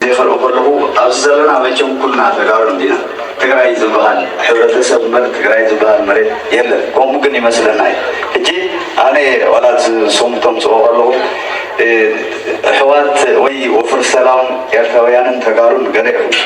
እዚ ክርኢ ከለኹ ኣብዚ ዘለና መቸም ኩልና ተጋሩ እንዲና ትግራይ ዝባሃል ሕብረተሰብ እምበር ትግራይ ዝባሃል መሬት የለን ከምኡ ግን ይመስለና እዩ ሕጂ ኣነ ዋላ እቲ ስሙ ተምጽኦ ከለኹ እሕዋት ወይ ወፍር ሰላም ኤርትራውያንን ተጋሩን ገለ ይሕውሱ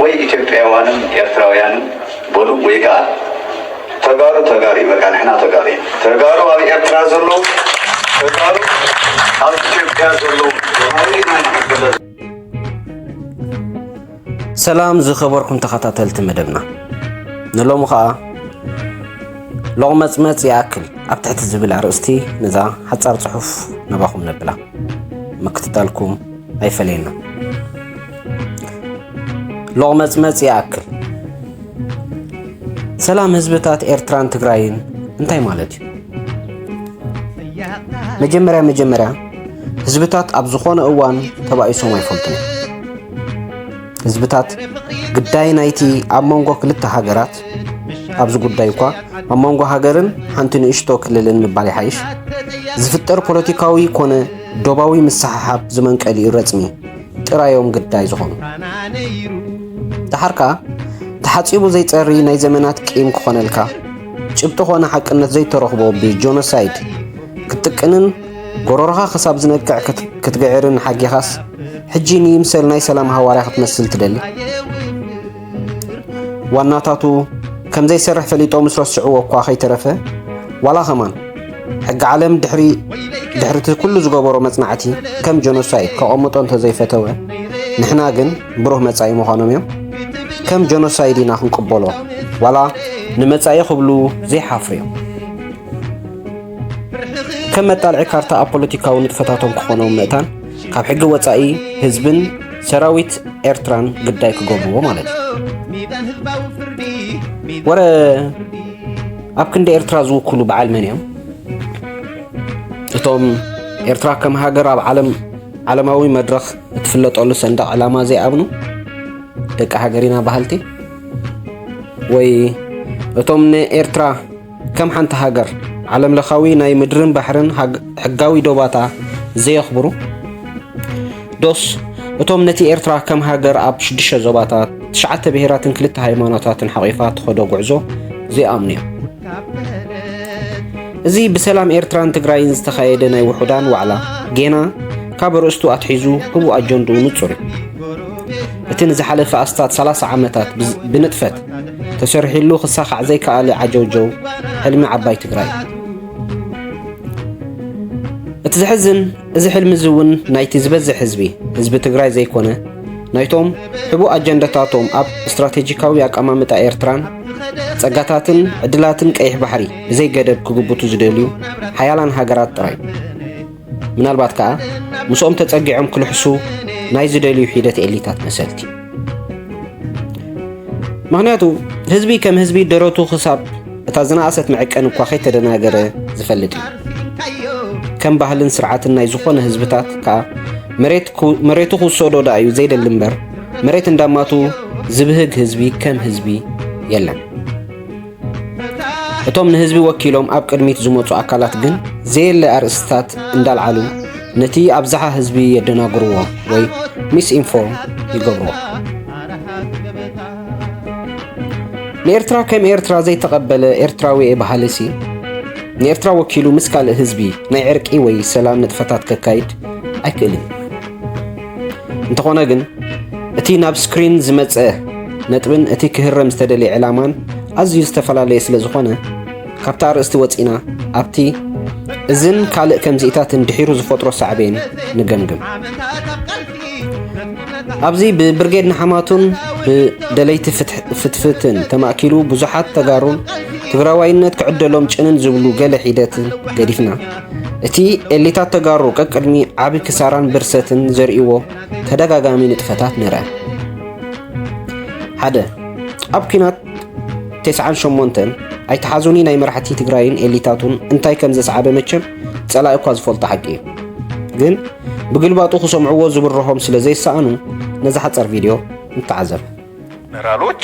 ወይ ኢትዮጵያውያንን ኤርትራውያንን በሉ ወይ ከኣ ተጋሩ ተጋሩ በቃ ንሕና ተጋሩ ተጋሩ ኣብ ኤርትራ ዘለዉ ተጋሩ ኣብ ኢትዮጵያ ዘለዉ ተጋሩ ኢና ንሕገለ ሰላም ዝኸበርኩም ተኸታተልቲ መደብና ንሎሚ ኸኣ ሎቕመጽመጽ ይኣክል ኣብ ትሕቲ ዝብል ኣርእስቲ ነዛ ሓጻር ጽሑፍ ነባኹም ነብላ ምክትታልኩም ኣይፈለየና ሎቕመጽመጽ ይኣክል። ሰላም ህዝብታት ኤርትራን ትግራይን እንታይ ማለት እዩ? መጀመርያ መጀመርያ ህዝብታት ኣብ ዝኾነ እዋን ተባኢሶም ኣይፈልጡን እዮም። ህዝብታት ግዳይ ናይቲ ኣብ መንጎ ክልተ ሃገራት ኣብዚ ጉዳይ እኳ ኣብ መንጎ ሃገርን ሓንቲ ንእሽቶ ክልልን ምባል ይሓይሽ ዝፍጠር ፖለቲካዊ ኮነ ዶባዊ ምስሓሓብ ዝመንቀሊኡ ረጽሚ ጥራይ እዮም ግዳይ ዝኾኑ። ደሓር ከኣ ተሓጺቡ ዘይጸሪ ናይ ዘመናት ቂም ክኾነልካ፣ ጭብጢ ኮነ ሓቅነት ዘይተረኽቦ ብጆኖሳይድ ክትጥቅንን ጎሮሮኻ ክሳብ ዝነቅዕ ክትግዕርን ሓጊኻስ፣ ሕጂ ንይምሰል ናይ ሰላም ሃዋርያ ክትመስል ትደሊ? ዋናታቱ ከም ዘይሰርሕ ፈሊጦም ምስ ረስዕዎ እኳ ከይተረፈ ዋላ ከማን ሕጊ ዓለም ድሕሪ ድሕርቲ ኩሉ ዝገበሮ መጽናዕቲ ከም ጀኖሳይድ ከቐምጦ እንተዘይፈተወ ንሕና ግን ብሩህ መጻኢ ምዃኖም እዮም ከም ጀኖሳይድ ኢና ክንቅበሎ ዋላ ንመጻኢ ክብሉ ዘይሓፍሩ እዮም ከም መጣልዒ ካርታ ኣብ ፖለቲካዊ ንጥፈታቶም ክኾኖም ምእታን ካብ ሕጊ ወፃኢ ህዝብን ሰራዊት ኤርትራን ግዳይ ክገብርዎ ማለት እዩ ወረ ኣብ ክንዲ ኤርትራ ዝውክሉ በዓል መን እዮም እቶም ኤርትራ ከም ሃገር ኣብ ዓለም ዓለማዊ መድረኽ እትፍለጠሉ ሰንደቕ ዕላማ ዘይኣብኑ ደቂ ሃገሪና በሃልቲ ወይ እቶም ንኤርትራ ከም ሓንቲ ሃገር ዓለም ለኻዊ ናይ ምድርን ባሕርን ሕጋዊ ዶባታ ዘየኽብሩ ዶስ እቶም ነቲ ኤርትራ ከም ሃገር ኣብ ሽዱሽተ ዞባታት ትሽዓተ ብሄራትን ክልተ ሃይማኖታትን ሓቚፋ ትኸዶ ጉዕዞ ዘይኣምኑ እዮም። እዚ ብሰላም ኤርትራን ትግራይን ዝተኻየደ ናይ ውሑዳን ዋዕላ ጌና ካብ ርእስቱ ኣትሒዙ ህቡእ ኣጀንድኡ ንጹር እዩ። እቲ ንዝሓለፈ ኣስታት 30 ዓመታት ብንጥፈት ተሰሪሒሉ ክሳኻዕ ዘይከኣለ ዓጀውጀው ሕልሚ ዓባይ ትግራይ። እቲ ዘሕዝን እዚ ሕልሚ እዚ እውን ናይቲ ዝበዝሕ ህዝቢ ህዝቢ ትግራይ ዘይኮነ ናይቶም ሕቡእ ኣጀንዳታቶም ኣብ ስትራቴጂካዊ ኣቀማምጣ ኤርትራን ጸጋታትን ዕድላትን ቀይሕ ባሕሪ ብዘይገደብ ክግብቱ ዝደልዩ ሓያላን ሃገራት ጥራይ ምናልባት ከኣ ምስኦም ተጸጊዖም ክልሕሱ ናይ ዝደልዩ ሒደት ኤሊታት መሰልቲ ምክንያቱ ህዝቢ ከም ህዝቢ ደረቱ ክሳብ እታ ዝነኣሰት መዕቀን እኳ ከይተደናገረ ዝፈልጥ እዩ ከም ባህልን ስርዓትን ናይ ዝኾነ ህዝብታት ከዓ መሬቱ ክውሰዶ ዳ እዩ ዘይደሊ እምበር መሬት እንዳማቱ ዝብህግ ህዝቢ ከም ህዝቢ የለን እቶም ንህዝቢ ወኪሎም ኣብ ቅድሚት ዝመፁ ኣካላት ግን ዘየለ ኣርእስትታት እንዳልዓሉ ነቲ ኣብዝሓ ህዝቢ የደናግርዎ ወይ ሚስ ኢንፎርም ይገብርዎ። ንኤርትራ ከም ኤርትራ ዘይተቐበለ ኤርትራዊ በሃሊሲ ንኤርትራ ወኪሉ ምስ ካልእ ህዝቢ ናይ ዕርቂ ወይ ሰላም ንጥፈታት ከካይድ ኣይክእልን። እንተኾነ ግን እቲ ናብ ስክሪን ዝመጸ ነጥብን እቲ ክህረም ዝተደልየ ዕላማን ኣዝዩ ዝተፈላለየ ስለ ዝኾነ ካብቲ ኣርእስቲ ወፂና ኣብቲ እዝን ካልእ ከምዚኢታትን ድሒሩ ዝፈጥሮ ሳዕቤን ንገምግም ኣብዚ ብብርጌድ ንሓማቱን ብደለይቲ ፍትፍትን ተማእኪሉ ብዙሓት ተጋሩን ትግራዋይነት ክዕደሎም ጭንን ዝብሉ ገለ ሒደት ገዲፍና እቲ ኤሊታት ተጋሩ ቀቅድሚ ዓቢ ክሳራን ብርሰትን ዘርእይዎ ተደጋጋሚ ንጥፈታት ንርኣ። ሓደ ኣብ ኩናት ቴስዓን ሸሞንተን ኣይተሓዙኒ ናይ መራሕቲ ትግራይን ኤሊታቱን እንታይ ከም ዘስዓበ መቸም ጸላኢ እኳ ዝፈልጦ ሓቂ እዩ። ግን ብግልባጡ ክሰምዕዎ ዝብርሆም ስለ ዘይሰኣኑ ነዛ ሓጸር ቪድዮ ንተዓዘብ። ጀነራሎች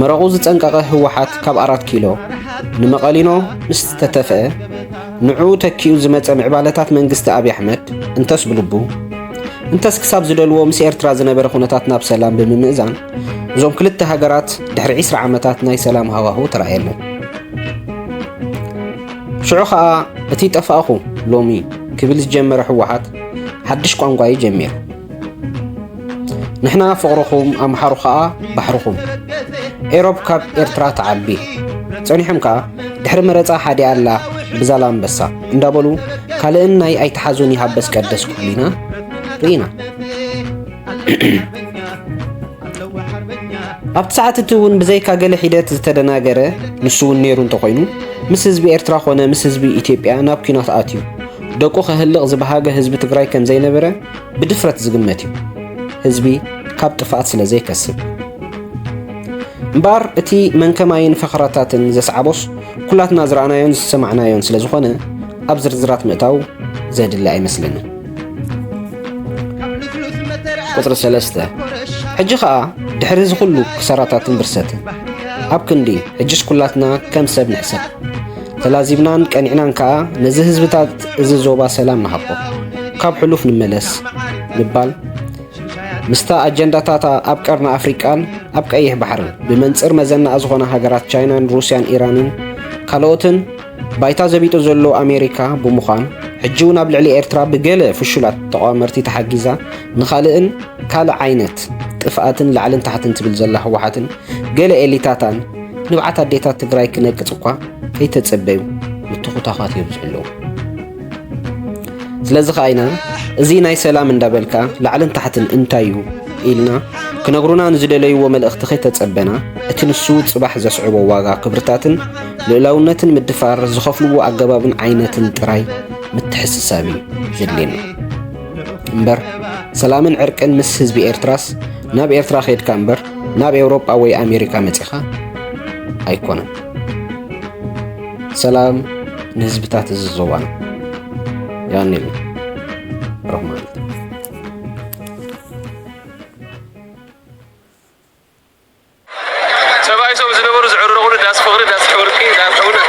መረቑ ዝጸንቀቐ ህወሓት ካብ ኣራት ኪሎ ንመቐሊኖ ምስ ተተፍአ ንዑ ተኪኡ ዝመጸ ምዕባለታት መንግስቲ ኣብዪ ኣሕመድ እንተስ ብልቡ እንተስ ክሳብ ዝደልዎ ምስ ኤርትራ ዝነበረ ኩነታት ናብ ሰላም ብምምእዛን እዞም ክልተ ሃገራት ድሕሪ 20 ዓመታት ናይ ሰላም ሃዋህው ተራእየለን ሽዑ ኸኣ እቲ ጠፋእኹ ሎሚ ክብል ዝጀመረ ህወሓት ሓድሽ ቋንቋ እዩ ጀሚሩ ንሕና ፍቕርኹም ኣምሓሩ ከኣ ባሕርኹም። ኤሮፕ ካብ ኤርትራ ትዓቢ። ጸኒሖም ከኣ ድሕሪ መረጻ ሓዲኣ ኣላ ብዛላምበሳ እንዳበሉ ካልእን ናይ ኣይትሓዙን ይሃበስ ቀደስ ክብሉ ኢና ርኢና። ኣብቲ ሰዓት እቲ እውን ብዘይካ ገለ ሒደት ዝተደናገረ ንሱ እውን ነይሩ እንተኾይኑ ምስ ህዝቢ ኤርትራ ኮነ ምስ ህዝቢ ኢትዮጵያ ናብ ኲናት ኣትዩ ደቁ ከህልቕ ዝበሃገ ህዝቢ ትግራይ ከም ዘይነበረ ብድፍረት ዝግመት እዩ፣ ህዝቢ ካብ ጥፍኣት ስለ ዘይከስብ። እምበኣር እቲ መንከማይን ፈኸራታትን ዘስዓቦስ ኩላትና ዝረኣናዮን ዝሰማዕናዮን ስለ ዝኾነ ኣብ ዝርዝራት ምእታው ዘድሊ ኣይመስለንን። ቁፅሪ ሰለስተ ሕጂ ከዓ ድሕሪ እዚ ኩሉ ክሰራታትን ብርሰትን ኣብ ክንዲ ሕጅስ ኩላትና ከም ሰብ ንሕሰብ ተላዚብናን ቀኒዕናን ከኣ ነዚ ህዝብታት እዚ ዞባ ሰላም ንሃቦ ካብ ሕሉፍ ንመለስ ምባል ምስታ ኣጀንዳታታ ኣብ ቀርኒ ኣፍሪቃን ኣብ ቀይሕ ባሕርን ብመንፅር መዘናኣ ዝኾነ ሃገራት ቻይናን ሩስያን ኢራንን ካልኦትን ባይታ ዘቢጡ ዘሎ ኣሜሪካ ብምዃን ሕጂ እውን ኣብ ልዕሊ ኤርትራ ብገለ ፍሹላት ተቋመርቲ ተሓጊዛ ንኻልእን ካልእ ዓይነት ጥፍኣትን ላዕልን ታሕትን ትብል ዘላ ህወሓትን ገለ ኤሊታታን ንብዓት ኣዴታት ትግራይ ክነቅፅ እኳ ከይተፀበዩ ምትኹታዃት የብዝሑ ኣለዉ። ስለዚ ከዓ ኢና እዚ ናይ ሰላም እንዳበልካ ላዕልን ታሕትን እንታይ እዩ ኢልና ክነግሩና ንዝደለይዎ መልእኽቲ ከይተጸበና እቲ ንሱ ጽባሕ ዘስዕቦ ዋጋ ክብርታትን ልእላውነትን ምድፋር ዝኸፍልዎ ኣገባብን ዓይነትን ጥራይ ምትሕስሳብ እዩ ዘድልየና እምበር ሰላምን ዕርቅን ምስ ህዝቢ ኤርትራስ ናብ ኤርትራ ኼድካ እምበር ናብ ኤውሮጳ ወይ ኣሜሪካ መጺኻ ኣይኮነን። ሰላም ንህዝብታት እዚ ዞባና ያኔሉ ረህማን ሰብኣይ ሰው ዝነበሩ ዝዕርረቑሉ ዳስ ፍቕሪ ዳስ ሕውርቂ ዳር ሕውነት